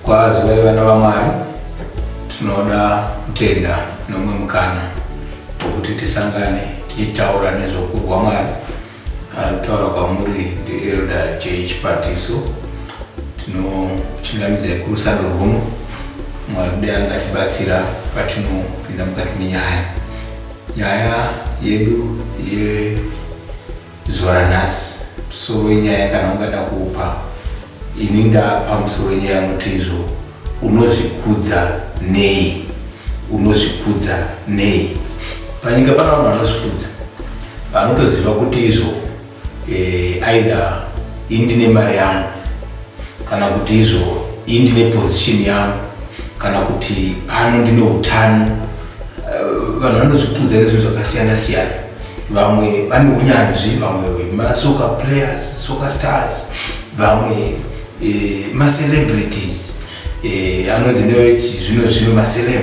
Kwazi vaiva vana vamwari tinoda kutenda nomwe mukana wokuti tisangane tichitaura nezvokurwa mwari Ari kutaura kwamuri ndiElder Jay Chipatiso. Tinochingamidza kurusando rwuno Mwari dai angatibatsira patinopinda mukati menyaya. Nyaya yedu yezuva ranhasi, musoro wenyaya kana ungada kupa Ini ndapa musoro nyaya yanoti izvo unozvikudza nei unozvikudza nei panyika pana vanhu vanozvikudza vanotoziva kuti izvo eh, aidha indine mari yangu kana kuti izvo indine position yangu kana kuti pano ndine utano eh, vanhu vanozvikudza nezvinhu zvakasiyana siyana vamwe vane unyanzvi vamwe vemasoka players soka stars vamwe eh, macelebrities eh, anonzi nezvino zvino maceleb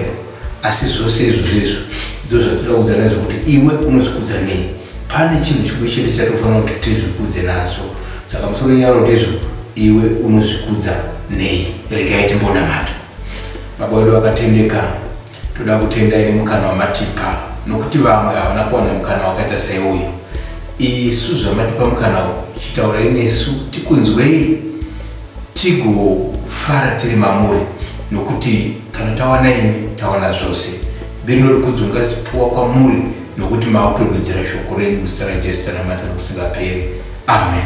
asi zvose izvozvo izvo ndo zvatoda kudza nazvo kuti iwe unozvikudza nei pane chinhu chimwe chete chatofanira kuti tizvikudze nazvo saka musoro nyaro ndizvo iwe unozvikudza nei regai timbonamata baba wedu vakatendeka Toda kutendai nemukana wamatipa nokuti vamwe havana kuwana mukana wakaita saiuyu. Isu zvamatipa mukana uyu, chitaurai nesu tikunzwei tigofara tiri mamuri nokuti kana tawana imi tawana zvose. Biri norikudzo ngazipuwa kwamuri nokuti maakutodudzira shoko renyu muzita raJesu tanamata nokusingaperi. Amen.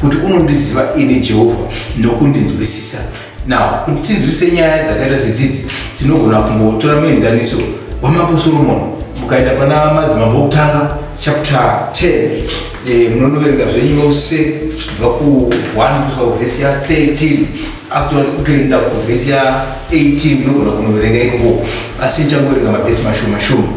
kuti unondiziva ini jehovha nokundinzwisisa now kuti tinzwisise nyaya dzakaita sedzidzi tinogona kumbotora muenzaniso wamambo soromoni mukaenda pana madzimambo okutanga chapter 10 eh, munonoverenga zvenyu yose kubva ku1 kusvika kuvhesi ya13 actually kutoenda kuvhesi ya18 munogona kunoverenga ikoko asi nichangoverenga mavhesi mashoma shoma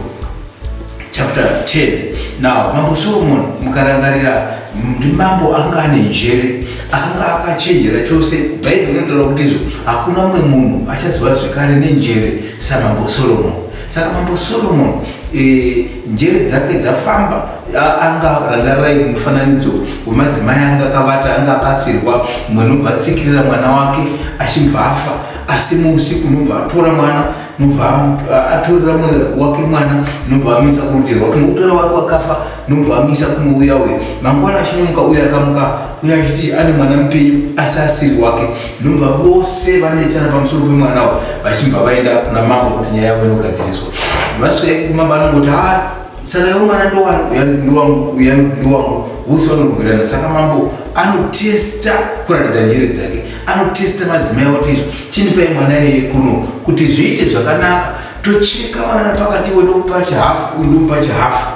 Chapter 10 Now mambo Solomon mukarangarira ndi mambo anga ane njere akanga akachenjera chose bhaibheri rinotaura kuti izvo hakuna umwe munhu achaziva zvekare nenjere samambo solomon saka mambo solomon e, njere dzake dzafamba anga rangarirai mufananidzo wemadzimai anga akavata anga abatsirwa mwenobva atsikirira mwana wake achibva afa asi muusiku unobva atora mwana nobva atorera mwana wake mwana nobva amisa kurutero wake nokutora wake wakafa nobva amisa kuno uya uya mangwana achinomuka uya akamuka uya achiti ane mwana mupenyu asi asiri wake nobva vose vanetsana pamusoro pemwana wo vachibva vaenda kuna mambo kuti nyaya yavo inogadziriswa vasvika kumamba anongoti ha saka iwo mwana ndowangu uya ndowangu vose vanorwirana saka mambo anotesta kuratidza njere dzake anotesta madzimai oti izvo chindipai mwana iye kuno kuti zviite zvakanaka tocheka mwana napakati wedokupa chihafu uyu ndomupa chihafu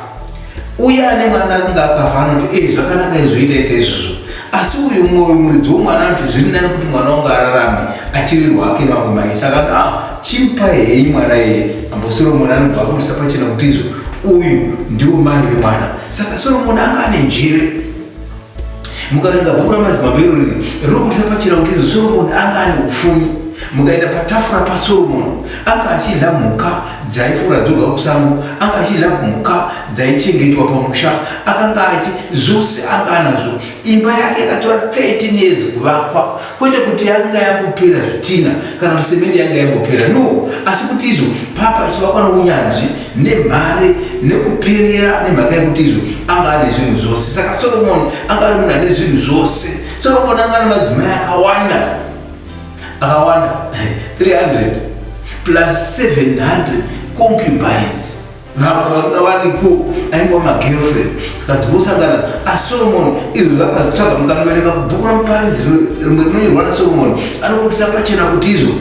uye ane mwana akunge akafa anoti e eh, zvakanaka izvoitai seizvozvo asi uyu mwoyo muridzi womwana anoti zviri nani kuti mwana wangu ararame achiri rwake mamwe mai saka no ah, chimpa hei mwana iye ambo soromoni anobva abudisa pachena kuti izvo uyu ndiwo mai vemwana saka soromoni anga ane njere mukaringa bhuku ramadzimambo irori rinobudisa pachena kuti izvo soromoni anga ane upfumi mukaenda patafura pasoromoni anga achidya mhuka dzaifura dzoga kusango anga achidya mhuka dzaichengetwa pamusha akanga achi zvose anga anazvo imba yake yakatora 13 years kuvakwa kwete kuti yanga yakupera zvitina kana kuti semende yanga yangopera no asi kuti izvo papa chivakwa nounyanzvi nemhare nekuperera nemhaka yekuti izvo anga ane zvinhu zvose saka soromoni anga ari munhu ane zvinhu zvose soromoni anga ane madzimai akawanda akawanda 300 plus 700 concubines vamwe vanga varipo ainga magirlfriend zikadzivosangana asolomoni ah, izvo zvakatsvaga mukanoverenga bhuku ramuparidzi rimwe rinonyorwa nasolomoni anokutisa pachena kuti izvo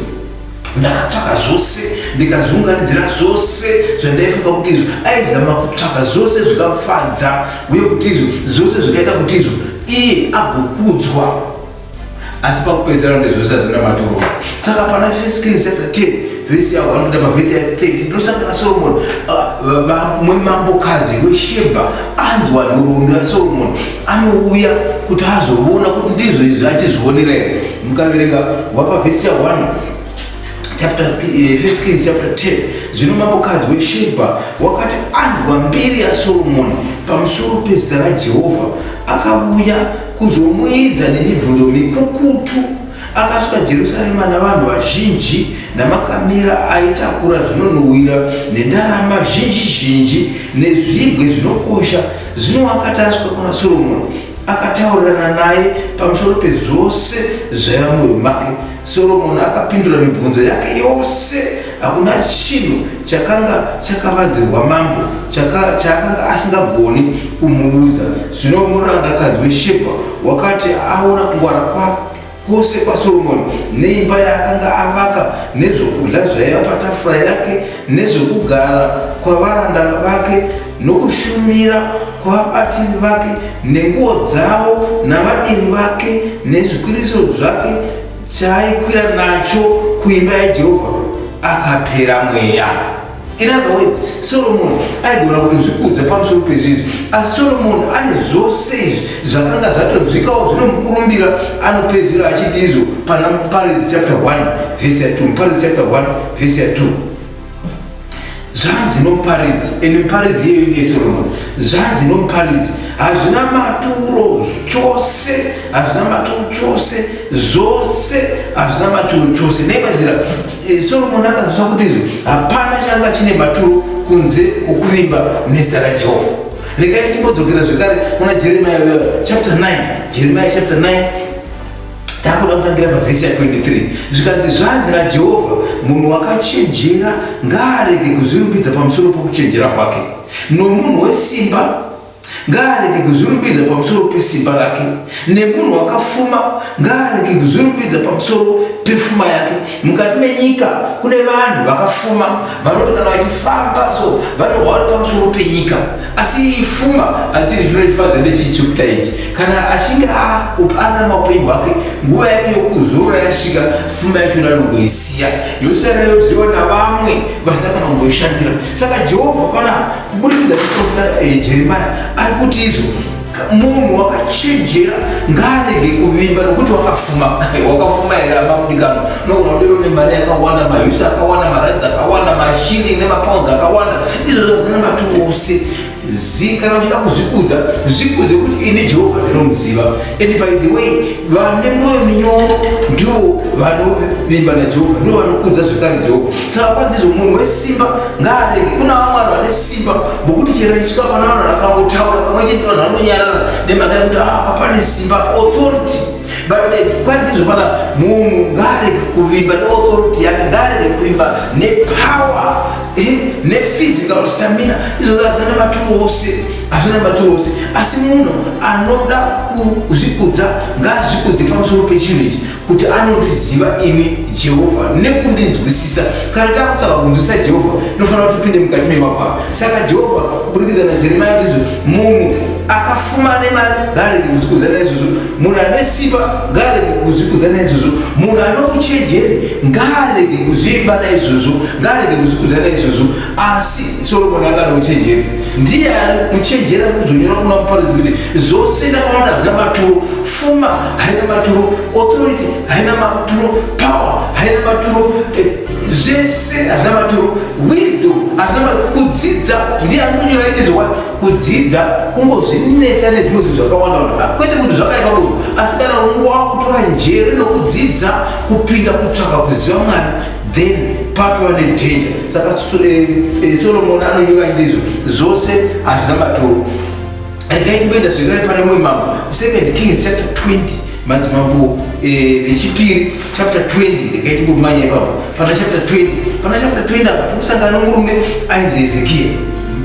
ndakatsvaka zvose ndikazviunganidzira zvose zvandaifunga kuti izvo aizama kutsvaka zvose zvikamufadza uye kuti izvo zvose zvikaita kuti izvo iye agokudzwa asi pakupedzisira ndizvo zvisadhura maturo saka pana first king chapter 10 vhesi yavo vanokuita pavhesi ya 30 ndosangana solomoni mumwe uh, mambokadzi weshebha anzwa nhoroondo yasolomoni anouya kuti azovona kuti ndizvo izvi achizvionera here mukaverenga wapa vhesi ya 1 chapter eh, first kings chapter 10 zvino mambokadzi weshebha wakati anzwa mbiri yasolomoni pamusoro pezita rajehovha akavuya kuzomuidza nemibvunzo mikukutu. Akasvika Jerusarema navanhu vazhinji namakamera aitakura zvinonhuhwira nendarama zhinji zhinji nezvigwe zvinokosha. Zvino akati asvika kuna Soromoni, akataurirana naye pamusoro pezvose zvaiva mumwoyo make. Soromoni akapindura mibvunzo yake yose. Hakuna chinhu chakanga chakavanzirwa mambo chaakanga asingagoni kumuudza. Zvino murandakadzi weShebha wakati aona kungwara kwose kwaSoromoni neimba yaakanga avaka nezvokudya zvaiva patafura yake nezvokugara kwavaranda vake nokushumira kwavabatiri vake nenguo dzavo navadiri vake nezvikwiriso zvake chaaikwira nacho kuimba yaJehovha akapera mweya. In other words, Solomon aigona kutozvikudza pamusoro pezvizvi asi Solomon ane zvose izvi zvakanga zvatonzwikawo zvinomukurumbira anopedzera achiti izvo pana Muparidzi chapter 1 verse ya 2 Muparidzi chapter 1 verse ya 2 zvanzi nomuparidzi and muparidzi iyeyo ndiye Solomon zvanzi nomuparidzi hazvina maturo chose hazvina maturo chose zvose hazvina maturo chose neimanzira Eh, Solomoni akanzwisisa kuti izvi hapana changa chine maturo kunze kwokuvimba nezita raJehovha. Regai tichimbodzokera zvekare kuna Jeremiya eh, chapter 9. Jeremiya chapter 9 takuda kutangira pavhesi ya 23 zvikanzi zvanzi najehovha munhu wakachenjera ngaarege kuzvirumbidza pamusoro pokuchenjera kwake nomunhu wesimba ngaarege kuzvirumbidza pamusoro pesimba rake nemunhu wakafuma ngaarege kuzvirumbidza pamusoro pefuma yake mukati menyika kune vanhu vakafuma vanoti kana vachifamba so vanohwari pamusoro penyika asi fuma asi zvinonifadza ndechicho kuda ichi kana achinge aana maupenyu hwake nguva yake yokuzora yasvika fuma yacho ndanongoisiya yosara yodyiwa navamwe vasina kana kumboishandira saka jehovha pana kuburikidza chiprofita eh, jeremaya ari kuti izvo munhu wakachenjera ngaarege kuvimba nokuti wakafuma wakafuma here amamudikano unogona kudero nemari yakawanda mahusi akawanda maranzi akawanda mashilling nemapounds akawanda izvozvo zvina matu ose zi kana uchida kuzvikudza zvikudze kuti ini jehovha ndinomuziva and by the way vane mwoyo minyoro ndivo vanovimba najehovha ndivo vanokudza zvekare jehovha Tava ndizvo munhu wesimba ngaarege kuna vamwe vanhu vane simba bokuti chero chisvika pana vanhu vakangotaura pamwe chete vanhu vanonyarara nemhaka yekuti ah, apa pane simba authority but kwanzizvo pana munhu ngaarege kuvimba neauthority yake ngaarege kuvimba nepower eh, nephysical stamina izvozvo hazvina nematuru ose hazvina nematuru ose asi munhu anoda kuzvikudza ngaazvikudze pamusoro pechinhu ichi kuti anondiziva ini jehovha nekundinzwisisa kana takutaka kunzwisisa jehovha tinofanira kuti tipinde mukati memakwava saka jehovha kuburikidza najeremia ndizvo munhu akafumana mari ngarege kuzvikudza naizvozvo munhu ane simba ngarege kuzvikudza naizvozvo munhu anokuchenjeri ngarege kuzviimba naizvozvo ngarege kuzvikudza naizvozvo asi soromoni anga ane uchenjeri ndiye muchenjeri ari kuzonyora kuna muparidzi kuti zvose ndakawanda zvina maturo pfuma haina maturo authority haina maturo power haina maturo eh, zvese hazvina maturo wisdom hazvina maturo kudzidza ndiye anonyora ite zvokwadi kudzidza kungozvinetsa nezvimwe zvinhu zvakawanda wanda kwete kuti zvakaita kudoro asi kana unguva wakutora njere nokudzidza kupinda kutsvaka kuziva mwari then patova nedanger saka eh, eh, solomoni anonyora achiti izvo zvose hazvina maturo regai timboenda zvekare pane mumwe mambo second kings chapter 20 madzimambo eh, vechipiri chapter 20 regai timbomanya ipapo pana chapter 20 pana chapter 20 apa tikusangana nomurume ainzi hezekiya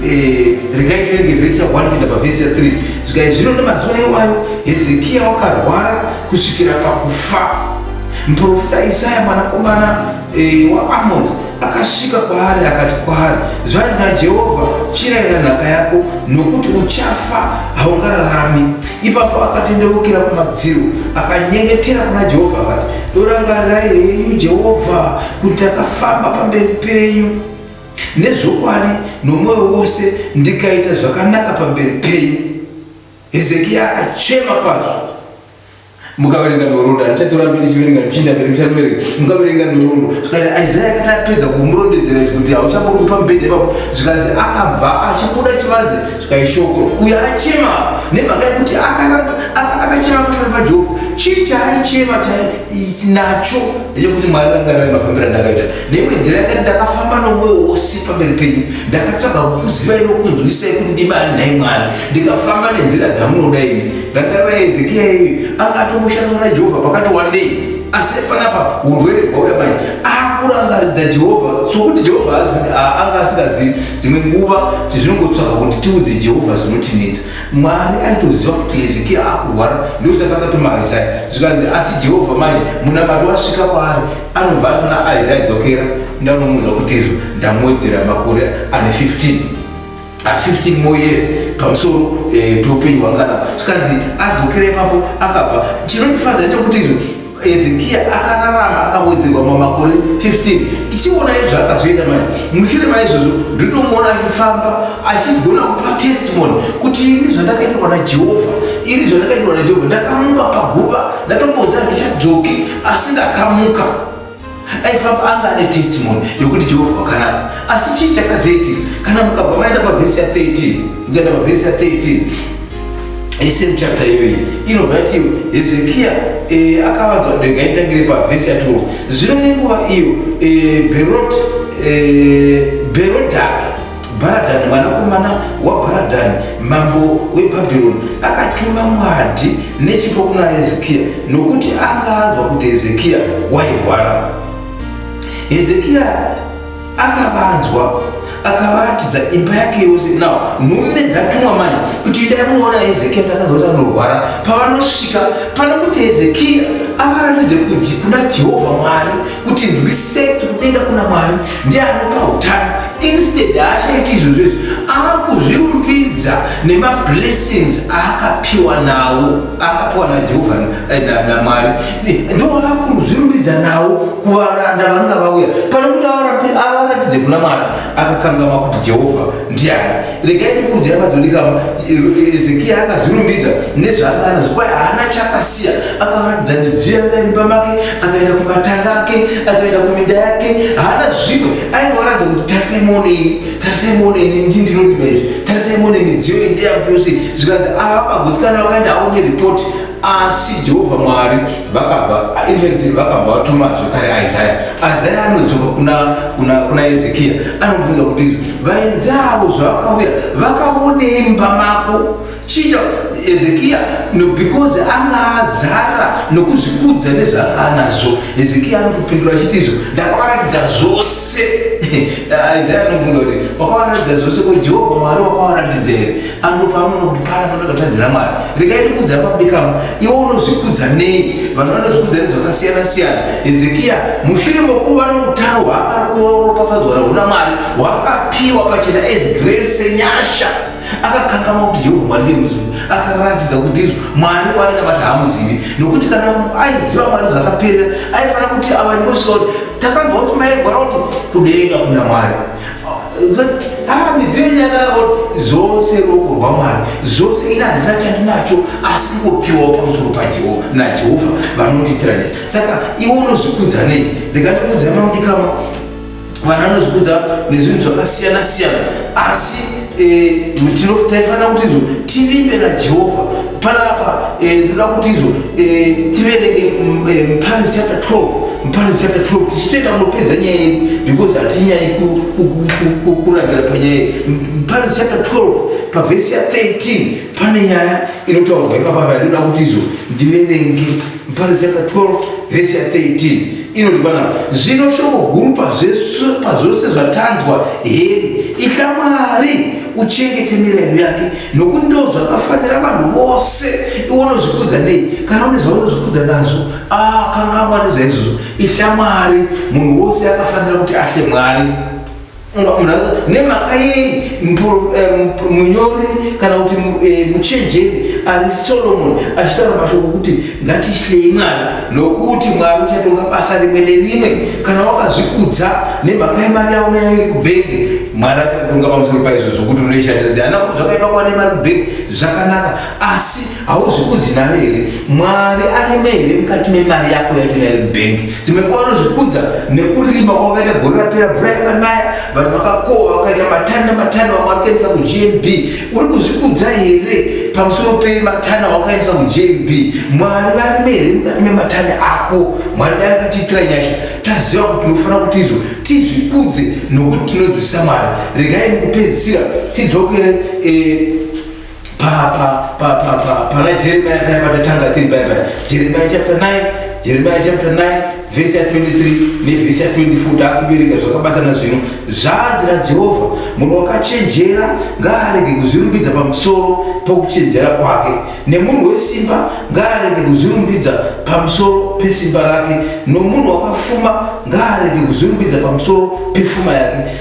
eh, regai tirenge vhesi ya 1 kuenda pavhesi ya 3 zvikai zvino nemazuva iwayo hezekiya wakarwara kusvikira pakufa muprofita isaya mwanakomana Eh, waAmozi akasvika kwaari akati kwaari, zvanzi naJehovha, chirayira nhaka yako, nokuti uchafa, haungararami. Ipapo akatendeukira kumadziro, akanyengetera kuna Jehovha akati, Dorangarirai henyu Jehovha, kuti ndakafamba pamberi penyu nezvokwadi nomwoyo wose, ndikaita zvakanaka pamberi penyu. Hezekia akachema kwazvo. mukaverenga nhoroondo handichatorambe ndichiverenga ndichinda mberi muchatoverenga mukaverenga nhoroondo zvikanzi isaya akati apedza kumurondedzera izvi kuti hauchambori pamubhedha ipapo zvikanzi akabva achibuda chivanze zvikaishokoro uyo achema nemhaka yekuti akaramba akachema pameri pajehovha chii chaaichema nacho ndechekuti mwari ranga rari mafambiro andakaita neimwe nzira yakati ndakafamba nomwoyo wose pamberi penyu ndakatsvaga kukuziva inokunzwisai kuti ndimani nhai mwari ndikafamba nenzira dzamunoda imi Rangarira Hezekia iyi anga atomboshanda na Jehovha pakati wandei asi panapa urwere hwauya mai akurangaridza Jehovha sokuti Jehovha anga asingazivi dzimwe nguva tizvinongotsvaga kuti tiudze Jehovha zvinotinetsa Mwari aitoziva kuti Hezekia akurwara ndosaka akatuma Isaya zvikanzi asi Jehovha manje munamati wasvika kwaari anobva atina Isaya dzokera ndanomuudza kuti izvo ndamuwedzera makore ane 15 at 15 more years pamusoro eh, peupenyu hwakanaka zvikanzi adzokera ipapo akabva chinondifadza chekuti izvo hezekiya akararama akawedzerwa mamakore 15 ichiona izvo akazoita manje mushure maizvozvo ndinomuona achifamba achigona kupa testimony kuti ini zvandakaitirwa najehovha ini zvandakaitirwa najehovha ndakamuka paguva ndatomboza ndichadzoki asi ndakamuka aifamba anga ane testimony yokuti jehovha wakanaka asi chii chakazoitika kana mukabva maenda pavhesi ya 13 mukaenda pavhesi ya 13 isem chapta iyoyi inobva yati hezekiya e, akavanzwa denga itangire pavhesi ya 12 zvino nenguva iyo e, berot e, berodhaki Bharadhani mwanakomana waBharadhani mambo weBhabhironi akatuma mwadhi nechipo kuna Hezekiya nokuti anga anzwa kuti Hezekiya wairwara. Hezekiya akavanzwa akavaratidza imba yake yose now nhume dzatumwa manje kuti idai munoona hezekiya takanzwa kuti anorwara pavanosvika pana kuti hezekiya avaratidze kuti kuna jehovha mwari kuti ndwisei kuti kudenga kuna mwari ndiye anopa utano instead haachaiti izvozvo izvi akuzvirumbidza nemablessings aakapiwa nawo akapiwa najehovha eh, namwari ndoakuzvirumbidza nawo kuvaranda vanga vauya pane kuti avaratidze kuna mwari akakangamwa kuti jehovha ndiani regai ndikuudzai madzondikama ezekiya akazvirumbidza nezvaanga anazvo kwaye haana chaakasiya akaratidza midziyo yanga iri pamake akaenda kumatanga ake akaenda kuminda yake haana zvimwe ainge waratidza kuti tarisai muone ini tarisai muone ini ndi ndinorima izvi tarisai muone midziyo iyi ndeyangu yose zvikanzi ava vakagutsikana vakaenda avo neripoti asi jehovha mwari vakabva infact vakabva vatuma zvekare isaya isaya anodzoka kuna ezekiya anomubvunza kuti Vaenzi avo zvavakauya vakavonei mumba mako chiita hezekiya no because anga azara nokuzvikudza nezvaanga anazvo hezekiya anokupindura achiti izvo ndakavaratidza zvose isaya anobvunza kuti wakavaratidza zvose ko jehovha mwari wakavaratidza here Ando pamunogara panakatadzira Mwari. Regai ndikudza pabikamo. Iwe unozvikudza nei? Vanhu vanozvikudza nezvakasiyana siyana. Hezekia mushure mokuva noutano hwaakakuva uropafadzwa rahuna Mwari hwaakapiwa pachena as grace senyasha akakangamwa kuti Jehovha Mwari ndiye muzivi. Akaratidza kuti ndizvo Mwari wainamata haamuzivi nokuti kana aiziva Mwari zvakaperera aifanira kuti ava ndosika kuti takanzwa kuti mairwara kuti kudenga kuna Mwari haa midziyo yenyu yakanaka zvose ruoko rwamwari zvose ini handina chandinacho asi kungopiwawo pamusoro pajehovha najehovha vanondiitira nezi saka iwe unozvikudza nei ndikandikudza mamudikama vana anozvikudza nezvinhu zvakasiyana siyana asi Eh, taifanira kuti izo tivimbe najehovha panapa eh, ndoda kuti izo eh, tiverenge mm, muparis chapter 12 muparis chapter 12 tichitoita munopedza nyaya yedu because hatinyayi kurambira panyaya yedu muparis chapter 12 pavhesi ya 13 pane nyaya inotaurwa ipapa vandoda kuti izo ndiverenge Muparo chapter 12 vhesi ya 13 inoti panapa zvino shoko guru pazvose zvatanzwa heri itya mwari uchengete mirayiro yake nokuti ndo zvakafanira vanhu vose iwe unozvikudza nei kana une zvaunozvikudza nazvo akangamwa ah, nezvaizvozvo ihla mwari munhu wose akafanira kuti ahle mwari nemhaka yei eh, munyori kana kuti eh, muchenjeri ari solomoni achitaura mashoko okuti ngatityei mwari nokuti mwari uchatonga basa rimwe nerimwe kana wakazvikudza nemhaka yemari yavo nayo iri kubhenge mwari achakutonga pamusoro paizvo zvokuti unoishandisa ziyana kuti zvakaipa kuva nemari kubhenge zvakanaka asi hauzi kudzina here mwari arime here mukati memari yako yachona iri bhengi dzimwe nguva anozvikudza nekurima kwakaita gore rapera mvura yakanaya vanhu vakakohwa vakaita matani nematani vamwe vari kuendesa kugnb uri kuzvikudza here pamusoro pematani awakaendesa kugnb mwari varime here mukati mematani ako mwari dai akatiitira nyasha taziva kuti tinofanira kuti izvo tizvikudze nokuti tinonzwisisa mwari regai mukupedzisira tidzokere eh, pa pa pa pa pa pana jeremiya paya patatanga tiri paya paya jeremiya chapter 9 jeremiya chapter 9 vhesi ya 23 nevhesi ya 24 taakuverenga zvakabatana zvino zvanzi najehovha munhu wakachenjera ngaarege kuzvirumbidza pamusoro pokuchenjera kwake nemunhu wesimba ngaarege kuzvirumbidza pamusoro pesimba rake nomunhu wakafuma ngaarege kuzvirumbidza pamusoro pefuma yake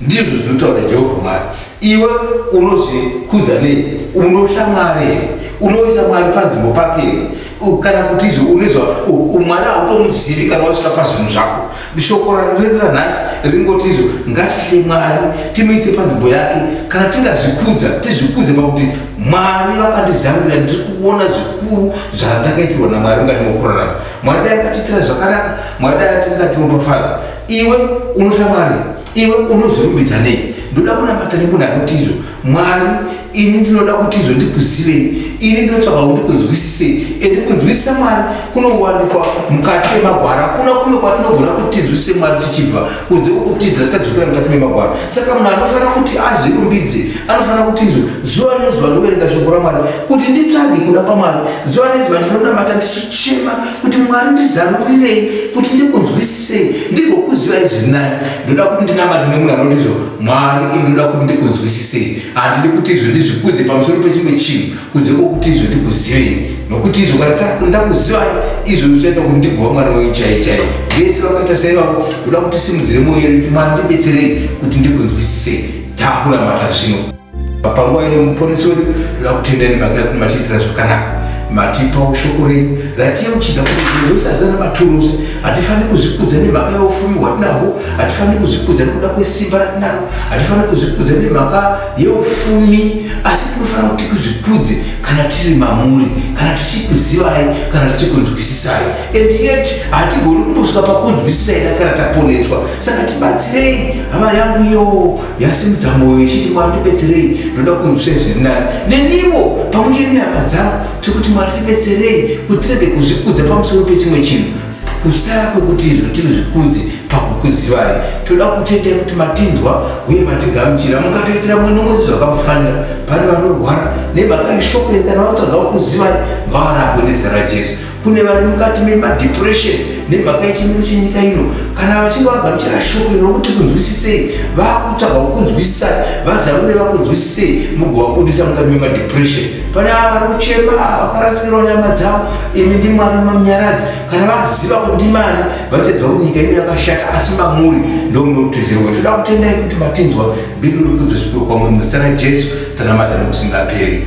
Ndizvo zvinotaura Jehovha Mwari. Iwe unozvikudza nei? Unotya Mwari here? Unoisa Mwari panzvimbo pake here? U- Kana kuti izvo unoizwa u- u- Mwari hautomuzivi kana wasvika pazvinhu zvako. Shoko ra- redu ranhasi ringoti izvo ngatitye Mwari timuise panzvimbo yake. Kana tingazvikudza tizvikudze pakuti Mwari vakandizarurira ndiri kuona zvikuru zvandakaitirwa naMwari mukati mokurarama. Mwari dai akatiitira zvakanaka, Mwari dai akatiropafadza. iwe unotya mwari iwe unozorumbidza nei ndoda kunamata nemunhu anotizvo mwari ini ndinoda kutizvo ndikuzivei ini ndinotsvaga kuti kunzwisisei ende kunzwisisa mwari kunowanikwa mukati memagwara kuna kume kwatinogona kutizwisise mwari tichibva kunze kwokutidza tadzokera mukati memagwara saka munhu anofanira kuti azvirumbidze anofanira kutizvo zuva nezuva ndoverenga shoko ramwari kuti nditsvage kuda kwamwari zuva nezuva ndinonamata ndichichema kuti mwari ndizarurirei kuti ndikunzwisisei ndigokuzivai zviri nani ndoda kuti ndinamati nemunhu anoti izvo mwari ini ndoda kuti ndikunzwisisei handidi kuti izvo ndizvikudze pamusoro pechimwe chinhu kunze kwokuti izvo ndikuzivei nokuti izvo kana ndakuzivai izvo zvichaita kuti ndigova mwana wenyu chai chai vese vakaita saivavo ndoda kuti simudzire mwoyo yedu kuti mwari ndibetserei kuti ndikunzwisisei takuramata zvino panguva ino muponesi wedu toda kutenda nemhaka yekuti matiitira zvakanaka matipawo shoko renyu ratiyeuchidza kuti zvinhu zvose hazvana maturusi hatifaniri kuzvikudza nemhaka yeufumi hwatinahwo hatifaniri kuzvikudza nekuda kwesimba ratinaro hatifaniri kuzvikudza nemhaka yeufumi asi tinofanira kuti kuzvikudze kana tiri mamuri kana tichikuzivai kana tichikunzwisisai and yet hatigoni kutosvika pakunzwisisai takara taponeswa saka tibatsirei hama yangu iyo yasimudza mwoyo ichiti mwari tibetserei ndoda kunzwisei zviri nani nenivo pamwe chete nehama dzangu tiri kuti mwari tibetserei kuti tirege kuzvikudza pamusoro pechimwe chinhu kusara kwekuti izvo tiri zvikudzi pakukuzivai toda kutendai kuti matinzwa uye matigamuchira mukatoitira mwe nomwezi zvakamufanira pane vanorwara nemhaka yeshoko iri kana vatsvaga kukuzivai ngavarapwe nezita rajesu kune vari mukati memadepression nemhaka yechimiro chenyika ino kana vachinge vagamuchira shoko iro rokuti kunzwisisei vakutsvaga kukunzwisisai vazarure vakunzwisisei mugovabudisa mukati memadepression pane ava vari kuchema vakarasikirwa nyama dzavo imi ndi mwari mamunyaradzi kana vaziva kuti ndimani vachaziva kuti nyika ino yakashata asi mamuri ndomunotizirwa toda kutendai kuti matinzwa bibiri rikudzosipiro kwamuri muzita rajesu tanamata nokusingaperi